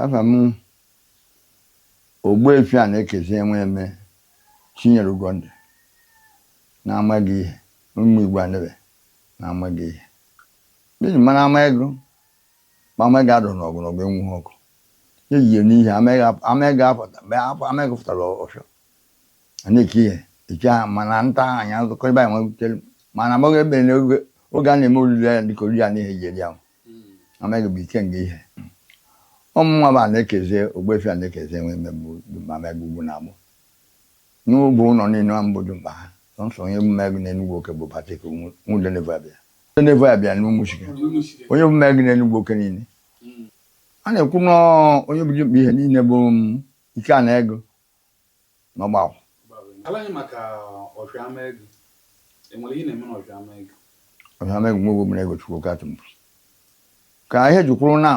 afa mụ ogbuefi anaekezie nweme chinyereugo ndị na-amaghị ihe ụmụ igbo anebe na-amaghị ihe N'ihi ị ma na Amaegu, ma Amaegu adụrọ n'ọgụ n'ọgụ enwughị ọkụ. E yi ya n'ihe Amaegu ap- Amaegu apụta mgbe ahụ Amaegu pụtara ọfịa. A na-eke ihe eke ha mana nta ha anya nzụkọ ebe anyị nwebutere mana amaghị ebe na oge oge a na-eme oriri ya dịka oriri a na ihe eji eri ahụ. Amaegu bụ ike nga ihe. Ọ mụnwa bụ Anaekezie ogbuefi Anaekezie Nweme bụ dimkpa Amaegu ugwu na agbụ. N'ụbụ ụlọ niile a m bụ dimkpa ha sọnsọ onye bụ ma ego na Enugwu oke bụ Patrick Nwu- Nwudenevu Abịa. udenevu abịa n'ụmụchike onye bụ mmegụ na enugwu oke niile a na-ekwu na onye bụ dimkpa ihe niile bụ ike na ego na ọgbakọ ọfịa amaegu nwebu bụ ego chukwu ka tụmpụ ka ihe e ji kwuru na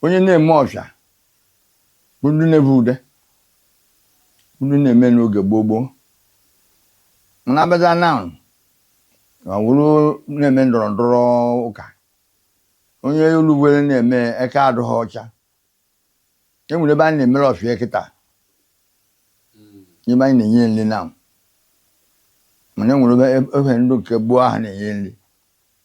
onye na-eme ọfịa bụ ndị nevu ude ndị na-eme n'oge gboo gboo mana abịaza na ma wụrụ na-eme ndọrọ ndọrọ ụka onye o lugwere na-eme eka adụghị ọcha e nwere ebe anyị na-emere ọfịa kịta n'ebe anyị na-enye nri na mana e nwere ofe ndụ nke gboo ahụ na-enye nri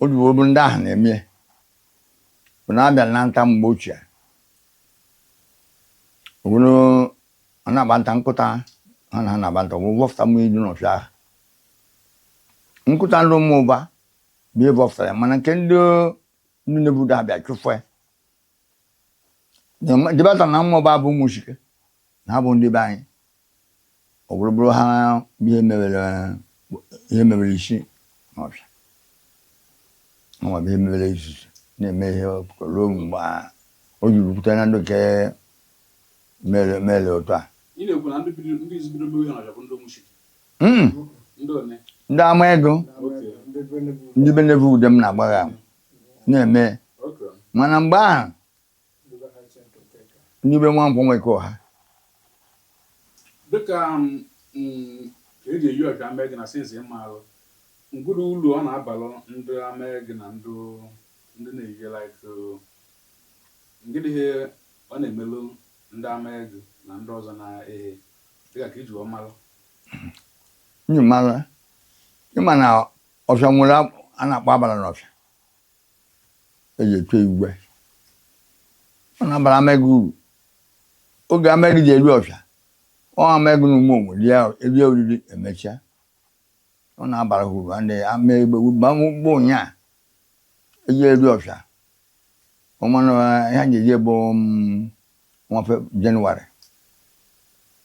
O jiwo bụ ndị ahụ na-eme bụ na-abịa na nta mgbe ochie obodo a na-agba nta nkụta ha na ha na-agba nta o wee vọfụta mmiri dị n'ọfịa ahụ nkụta ndị ụmụụba bụ ihe vọfụta ya mana nke ndị ndị nevu ude abịa chụfụ ya dịbata na ụmụụba bụ ụmụchike na ha bụ ndị be anyị ọ bụrụ bụrụ ha bụ ihe mebere isi n'ọfịa nwa bụ ihe mebere izuzu na-eme ihe ruo mgbe o jiri pụta na ndụ nke mere otu a ndị amaegu ndị be nevu ude m na-agbagha na-eme mana mgbe ahụ ndị be nwankwọ nweke ọha dịka um, mm, ka eji eyi ọfịa amaegu na sensi ịmalụ ngịdị ulu ọ na-abalụ ndị amaegu na ndị ndị na-eyi like uh, ngịdị ihe ọ na-emelụ ndị amaegu na ndị ọzọ na-ehe dịka ka e ji wee malụ nyi mara ịma na ọfịa nwere a na-akpọ abala na ọfịa eji eche igwe ọ na-abara Amegụ uru oge Amegụ ji eri ọfịa ọ Amegụ na ụmụ onwe rie oriri emechaa ọ na-abara ha uru ndị ama egbe gbamgbọ ụnyaa eji eri ọfịa ọmanụ ihe ji eji bụ nwafe jenụwarị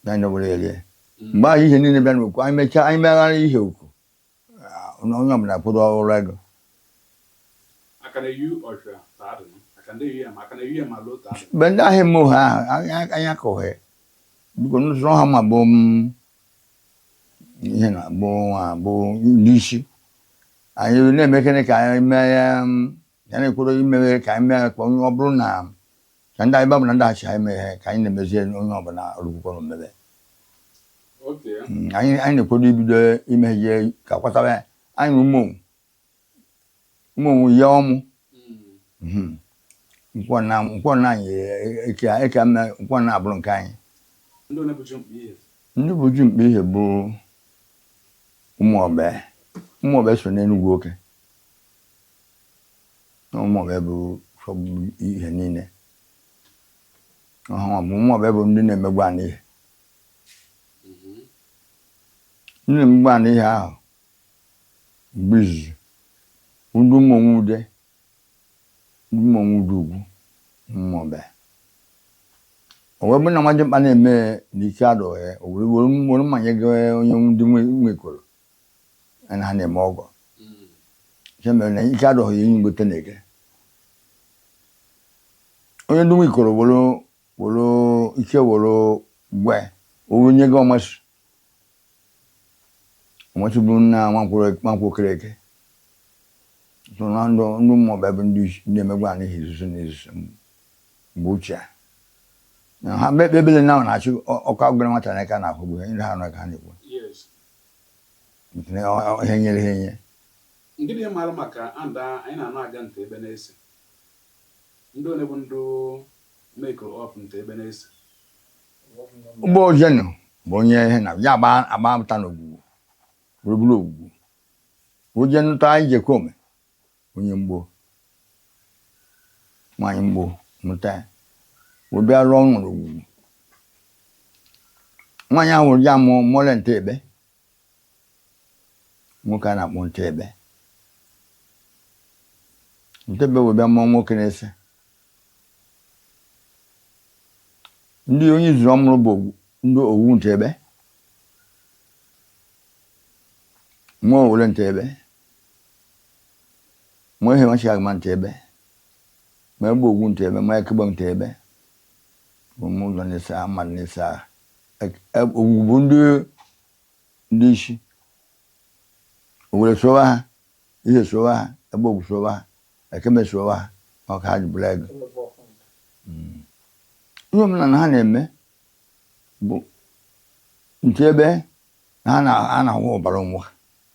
ya nyewere erie mgbe ahụ ihe niile bịa n'okwu anyị mechaa anyị meghara ihe okwu onye ọbụla kwụrụ ọrụ ego mgbe ndị ahịa eme ohe ahụ anya ka ohe biko n'ụzọ ha ma bụ ihe na bụ nwa bụ ndị ichie anyị na-emekere ka anyị mee ya na-ekwere imeghe ka anyị mee ka ọ bụrụ na ka ndị anyị babụ na ndị achị anyị mee ihe ka anyị na-emezie onye ọbụla rụkwukwa na omebe anyị anyị na-ekwedo ibido ime ihe ka kwatara anyị na ụmụ ụmụ onwe ya ọmụ nkwọ na anyị eke eke mme nkwọ na abụrụ nke anyị ndị bụ ju mkpa ihe bụ Ụmụobe Ụmụobe so n'enugwu oke Ụmụobe bụ fọgburu ihe niile ọhụụ bụ Ụmụobe bụ ndị na-emegbu ana ihe ndị na-emegbu ana ihe ahụ mgbe izizi ndị ụmụnwe ude ndị ụmụnwe ude ugwu Ụmụobe o wee bụrụ na nwa dị mkpa na-eme n'ike adụghị o were were mmanye gị onye ndị nwekoro na ha na-eme ọgọ nke mere na ike adụghị ya inye ngote na-ege onye ndị nwe ikoro were were ike were gwe owe nye gị ọmasị ọmasị bụrụ nna nwankwụ okere eke so na ndụ ndụ Ụmụobe bụ ndị isi ndị emegbu anaghị izuzu na izuzu mgbe ochie na ha mekpe ebele na na-achị ọkụ agụgara nwata n'aka na ahụgbu ha ndị ha nọ ka ha na-ekwu ihe nyere ha enye Ndị dị mara maka and anyị na-anụ aga nte ebe na-ese ndị one bụ ndị make up nte ebe na-ese bụ ojenu bụ onye ihe na ya agba agba pụta n'ogwugwu gburugburu ogwugwu ojenụta anyị jekome onye mgbo nwaanyị mgbo mụta ya wee bịa rụọ ọrụ nwere ogwugwu nwaanyị ahụ wụrụ ya mụọ mụọla nte ebe nwoke a na-akpọ nte ebe nte ebe wee bịa mụọ nwoke na-ese ndị onye zuru ọmụrụ bụ ndị owu nte ebe mụọ owule nte ebe mụọ Ihe washi agma Ntebe mụọ Agbogugu Ntebe mụọ Akegbe Ntebe ụmụ ụzọ nese mmadụ nese Ogugu bụ ndị ndị isi Owelli sowa ha Ihe sowa ha Agbogugu sowa ha Akegbe sowa ha ọ ka ha ji bụrụ ego ihe omenala ha na-eme bụ Ntebe na ha na-ahụ ọbara onwe ha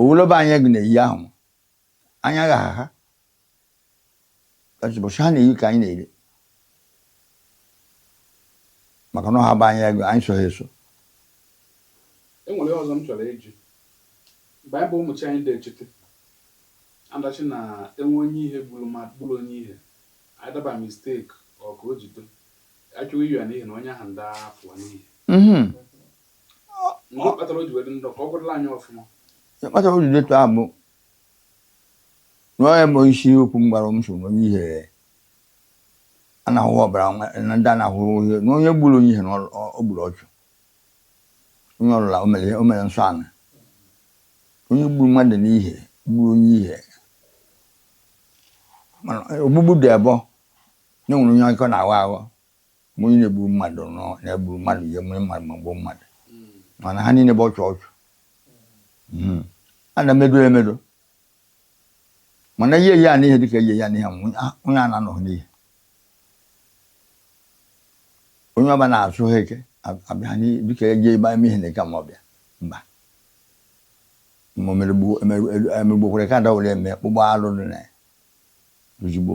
owoloba anya gị na-eyi ahụ m anya gha agha ụbọchị ha na-eyi ka anyị na-eri maka na ọha bụ anya ego anyị so ha eso e nwere ihe ọzọ m chọrọ ịjụ mgbe anyị bụ ụmụ chi anyị da echete a da-ashị na enwe onye Ihe gburu ma gburu onye Ihe either by mistake ọ ka o jido achụ ya n'Ihe na onye ahụ da-afụ n'Ihe Mhm. Ihe kpatara o ji wedị ndụ ka ọ gwụrụla anyị ọfụma. Ihe kpatara o ji detu a bụ na ọ ya bụ isi okwu m gwara m so na onye Ihe a na-ahụ ọbara na ndị a na-ahụ ihe na onye gburu onye Ihe na o gburu ọchụ onye ọbụla o mere o mere nsọ anị onye gburu mmadụ n'Ihe gburu onye Ihe mana ogbugbu dị abụọ na enwere onye aka na-aghọ aghọ Ma onye na-egburu mmadụ nọ na-egburu mmadụ ji emere mmadụ ma gbuo mmadụ mana ha niile bụ ọchụ ọchụ Mhm. a na-emedo ya emedo mana ihe ya n'ihe dịka ihe ya n'ihe nwụ, a- onye a na-anọghị n'Ihe onye ọbịa na-asụ ha eke a- abịa ha n'ihe dịka eje ebe eme ihe n'Eke ma ọbịa mba ma o mere gbuo- emeru- elu- emegbukwere ka adawere eme kpụba alụ dị na ya ozugbo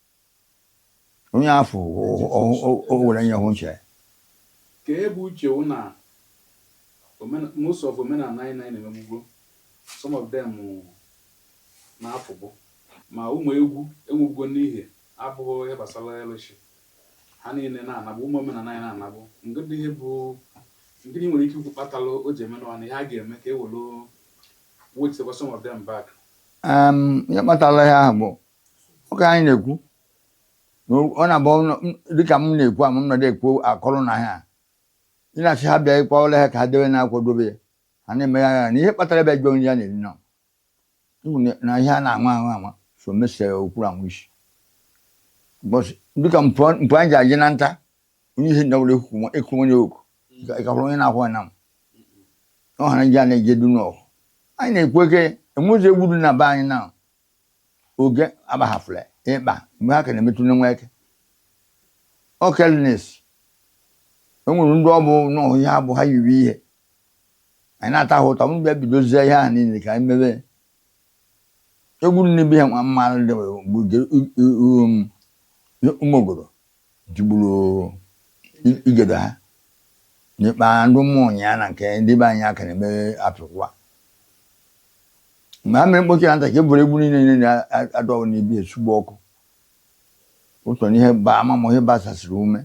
Onye afọ o were nye hụ nche. Ka ebe uche wụ na most of omenala anyị na-anyị na-emegbugo, some of them na-afụbụ. Ma ụmụ egwu enwubugo n'ihi abụghị ihe gbasara alụshị. Ha niile na-anabụ, ụmụ omenala anyị na-anabụ. Ngịdị ihe bụ, ngịdị nwere ike ikwu kpatalụ o ji eme nọnụ, ihe a ga-eme ka e were wechitekwa some of them back. Ihe kpatara ihe ahụ bụ ụka anyị na-ekwu na ọ na-abụ ọnụ- m- dịka m na-ekwu ama m nọdụ ekwu akọrọ na ha ị na-asị ha bịa ịkwa ụlọ ha ka ha debe na-akwadobe ya ha na-eme ya ya na ihe kpatara bịa jụọ nri a na-eri na ịhụ na- na ihe a na-anwa anwa anwa so mesie okwuru anwụ isi Because dịka mpụ mpụ anyị ji aje na nta onye Ihe ndawụrụ ekwu onye oku ịkahụrụ onye na-akwụ ya na m ọ hara nje a na-eje du n'ọgụ anyị na-ekwu eke enwezi egwu dị na be anyị na oge agbahafụla ịkpa mgbe ha ka na-emetụ na nweke okelnes e nwere ndị ọ bụ n'ọhụ ihe abụ ha yiri ihe anyị na-ata ha ụtọ mgbe bidozie ihe ahụ niile ka anyị mebe egwu nne bi ha nwa mmanụ dị mgbe ụmụogoro jigburu igede ha n'ikpa ndụ mmụọ ụnyaa na nke ndị be anyị aka na-eme apịkwụwa mgbe ha mere mkpochi na nta ka e buru egbu niile niile adọwụ n'ibi esugbu ọkụ ụtọ n'ihe ba amamụ ihe basasịrị ume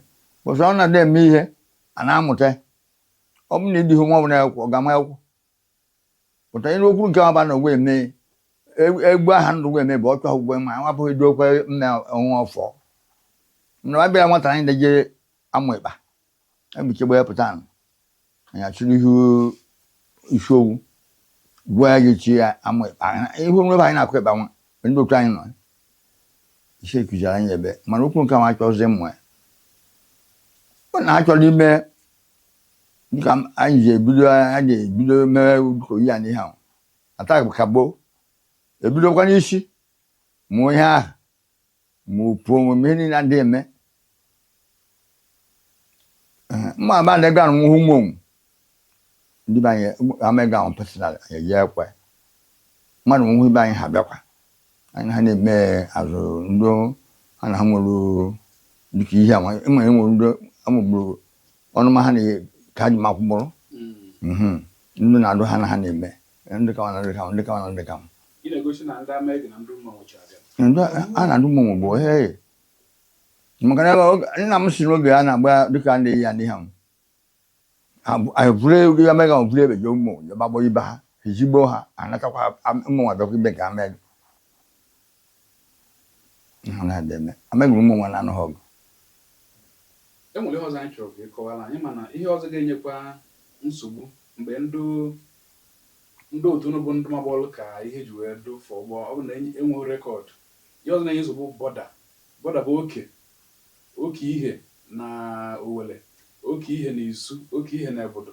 ụsọ ọ na-adị eme ihe a na-amụta ọ bụ na ịdịghị nwa ọbụla akwụkwọ ọ ga-ama akwụkwọ pụta ịrụ okwu nke ọba na wee mee egwu aha ndụ wee mee bụ ọchụ ahụ gwe ma nwa bụghị dị okwe mme onwe ọfọ na wa bịara nwata anyị deje amụ ịkpa ebiche gbe pụta nụ anyị achụrụ ihu isi owu gwa ya ga-echi ya amụ ịkpa ihu onwe anyị na-akụ ịkpa nwa ndị otu anyị nọ isi ekuziri anyị ebe mana okwu nke nwa achọzi mmụ ya ọ na-achọrọ ime dịka anyị ji ebido a ga-ebido mewe ụdịka oyi a n'ihe ahụ ata kagbuo ebidokwa n'isi mụọ ihe ahụ ma opu onwe m ihe niile adịghị eme Ee, mma aba ndị gara nwụhụ nwa onwu ndị be anyị Amaegu ahụ personal anyị eji ekwe mmadụ nwụhụ ibe anyị ha bịakwa anyị ha na-eme azụ ndị ha na ha nwere dịka ihe ama ịma enwe ndị amagburu ọnụma ha na ka ha ji makwụ mụrụ mhm. ndị na-adụ ha na ha na-eme ndị kawa na ndị kawa ndị kawa na ndị kawa a na-adụ mmanwụ bụ he maka na nna m si n'oge a na-agba dịka ndị ya ndị ha anyị Amaegu ahụ bụrụ ebeghị ụmụ gbagbuo ibe ha ejigbo ha anatakwa ụmụ nwa bịakwa ibe nke Amaegu ha na-adị eme Amaegu ụmụ nwa na-anụghị ọgụ e nwere ihe ọzọ anyị chọrọ ka ị kọwara anyị mana ihe ọzọ ga-enyekwa nsogbu mgbe ndị ndị otu unu bụ ndị magbọọlụ ka Ihe ji wee dụ fọ ụgbọ ọ bụ na enweghị record ihe ọzọ na-enye nsogbu border border bụ oke Oke Ihe na Owelli, oke Ihe na Isu, oke Ihe na Agbudu.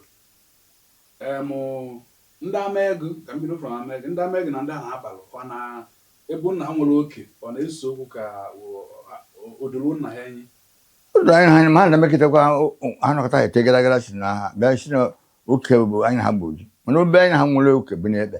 Um Ndị Amaegu, ka m bido from Amaegu, ndị Amaegu na ndị ahụ akpara ọ na ebe unu na ha nwere oke ọ na-ese okwu ka o doro unu na ha anya? O doro anya ha ma na mekitakwa ha nọkọta ete gara gara si na ha bịa si na oke bụ anyị na ha bụ oji mana obe anyị na ha nwere oke bụ n'ekpe.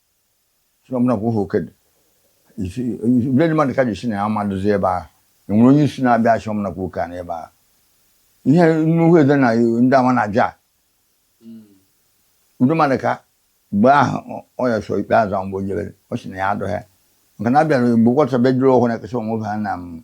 ọbụla kwa ohu okedị ndị mmadụ ka ji si na ya amadụzi ebe ahụ enwere onye isi na-abịa achị ọbụla kwa oke a n'ebe ahụ ihe nnukwu ede na ndị ama na aja udo mmadụ ka mgbe ahụ ọ ya so ikpe azụ mgbe o jebere ọ sị na ya adụghị maka na abịara mgbe kwọta bedro ọhụrụ na-ekesa onwe ha na m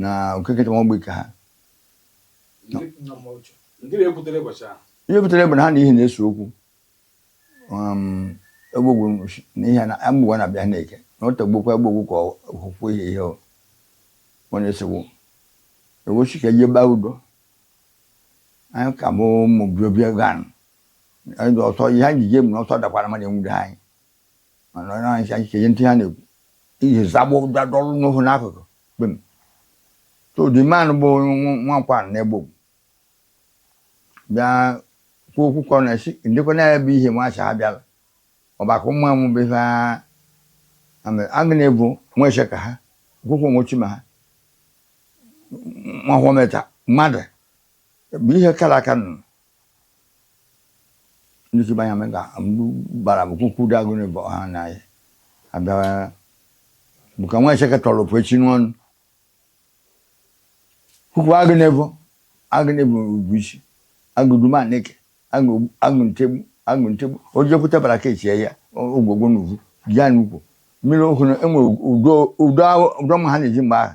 na okeke chọrọ ọgbọ ike ha ihe butere bụ na ha na ihe na-ese okwu um, egbogwu na ihe na amọkwe na abịa neke na ọ tagbukwa egbogwu ka okwukwe ihe ihe ọ na-esewo ewochi ka eje baa udo anyị ka bụ ụmụ biobia gan ọsọ ihe anyị ji je mụ na ọsọ dakwara mmadụ enwude anyị mana onye anyị anyị chenye ntị ha na-ekwu ihe zagbo dadọrụ n'ohu n'akụkụ kpem so the man bụ nwankwọ n'egbo bịa kwuo okwu ka ọ na-esi ndekwa na ebe ihe nwacha ha bịala ọbaka ụmụ amụ bụ ihe agụ na-ebu nwa eche ka ha kwukwu nwochi ma ha nwa hụmeta mmadụ bụ ihe kara aka nọ Ndị si banya mega gbara bụ kwukwu da agụ na ịbọ ha na ya. Abịa bụ ka nwa echeke tọrọ ofu echi n'ọnụ. Kwukwu agụ na ịbọ agụ na ịbọ ugwu isi agụ duma neke agụ agụ ntegbe agụ ntegbe o jekwute bara ka echie ya ogwugwu n'ugwu ya n'ukwu mmiri okwu na enwe udo udo ahụ- udo ma ha na-eji mgbe ahụ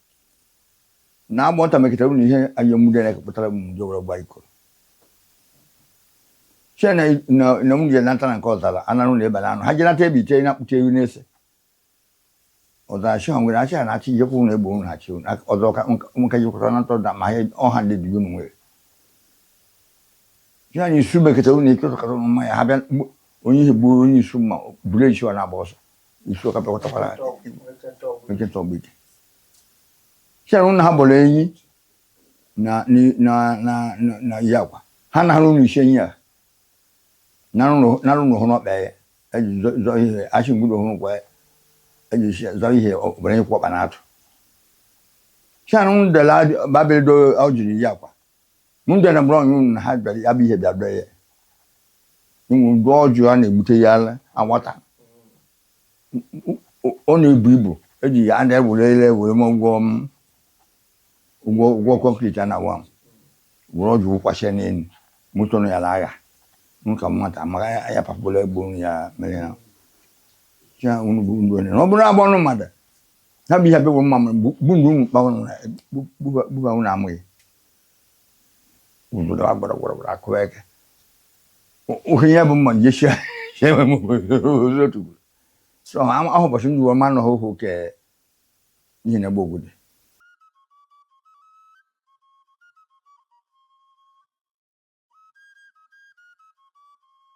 na agba nta mekịtara unu ihe anyị emude na ekepụtara m ndị were gba iko che na m jere nata na nke ọzara ananụ na ebe na anụ ha jere nata ebe ite na akpụta ewu na-ese ọzara chi ha nwere achị ha na-achị ihe kwụrụ na egbo unu ha chi ọzọ ka nka jikwata na ntọ da ma ha ọha ndị dị unu nwere chi anyị isu mekịtara unu ike ụtụkata ụnụ mmanya ha bịa onye ihe gburu onye isu mma buru echi ọ na-agba ọsọ isu ọka pịakọtakwara nkịta ọgbidi chere na ha bọrọ enyi na ni- na na na- na ihe akwa ha na arụ n'isi enyi a na arụ n'ụhụ n'ọkpa ya eji zọ- zọ ihe achị mgbudo hụrụ gwa ya eji isi zọ ihe ọbara ihe kwọkpa na atụ chere na dela babịa do ọ jiri ihe akwa m bịara mụrụ ọnyụ na ha bịara ya bụ ihe bịa dọọ ya inwe ụdị ọjụ a na-egbute ya ala anwata Ọ- ọ na-ebu ibu eji ya a na-ebule elu were m ụgwọ m ụgwọ ụgwọ concrete a na-awa m were ọjụ wụkwasị ya n'elu moto nọ ya na agha m ka nwata maka ya ya papụla egbo ya mere ya ya unu bụ ndị onye na ọ bụrụ agba ọnụ mmadụ ha bụ ihe abịa bụ mma mụrụ mgbu mgbu mgbu ụmụ kpawa nwụrụ gbuba nwụrụ amụghị obodo a gbara gbara gbara akụwa eke ohe ihe bụ mma nje shia shia enwe m obodo otu ugboro so ama- ahụ ụbọchị ndị uwe ọma anọghị ohu ke ihe na-egbu obodo